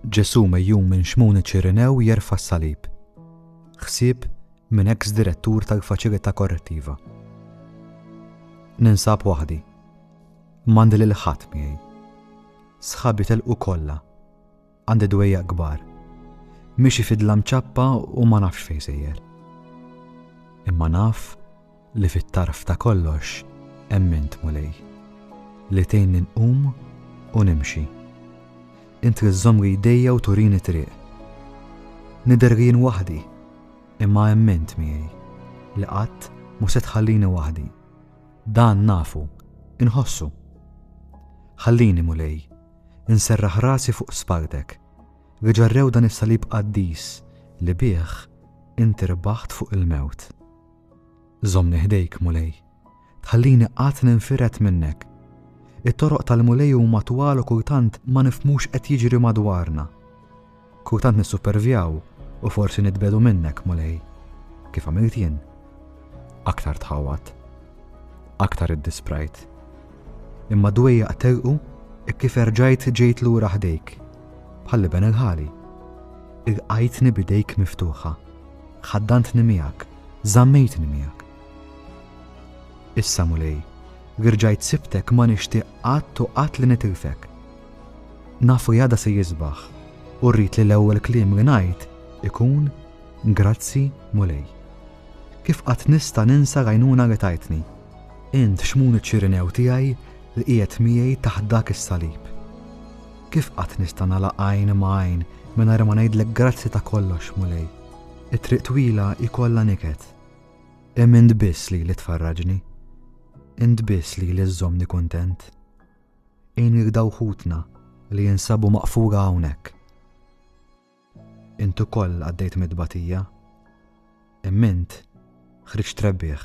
Ġesù mejjun minn Xmun iċ-Ċirinew jerfa' s-salib. Ħsieb minn eks direttur tal-Faċilità Korrettiva. Ninsab waħdi. M'għandi lil ħadd miegħi. Sħabi telqu kollha. Għandi dwejjaq kbar. Mixi fidla mċappa u ma nafx fejn sejjer. Imma naf Li fit-tarf ta' kollox hemm int, Mulej, li tgħinni nqum u nimxi. Int li żżommli jdejja u turini t-triq. Nidher jien waħdi, imma hemm int miegħi, li qatt mhu se tħallini waħdi. Dan nafu, inħossu. Ħallini, Mulej, inserraħ rasi fuq spalltek, li ġarrew dan is-salib qaddis li bih int irbaħt fuq il-mewt. Żommni ħdejk, Mulej. Tħallini qatt ninfired minnek. It-toroq tal-Mulej huma twal u kultant ma nifhmux qed jiġri madwarna. Kultant nissupervjaw u forsi nitbedu minnek, Mulej. Kif għamilt jien? Aktar tħawwad. Aktar iddisprajt. Imma d-dwejjaq terqu hekk kif erġajt ġejt lura ħdejk, bħall-iben il-ħali. Irqajtni b'idejk miftuħa, ħaddantni miegħek, żammejtni miegħek. Issa, Mulej, li rġajt sibtek ma nixtieq qatt u qatt li nitilfek. Nafu jada se jisbaħ u rrid li l-ewwel kliem li ngħid ikun grazzi Mulej. Kif qatt nista' ninsa rajnuna li tajtni? Int xmun iċ-Ċirinew tiegħi li qiegħed miegħi taħt dak is-salib. Kif qatt nista' nagħlaq għajn ma' għajn mingħajr ma ngħidlek grazzi ta' kollox, Mulej. It-triq twila hi kollha niket. Hemm int biss li li tfarraġni. Int biss li li żżommni kuntent. Għin lil daw ħutna li jinsabu maqfura hawnhekk. Int ukoll għaddejt mit-tbatija, imma int ħriġt rebbieħ.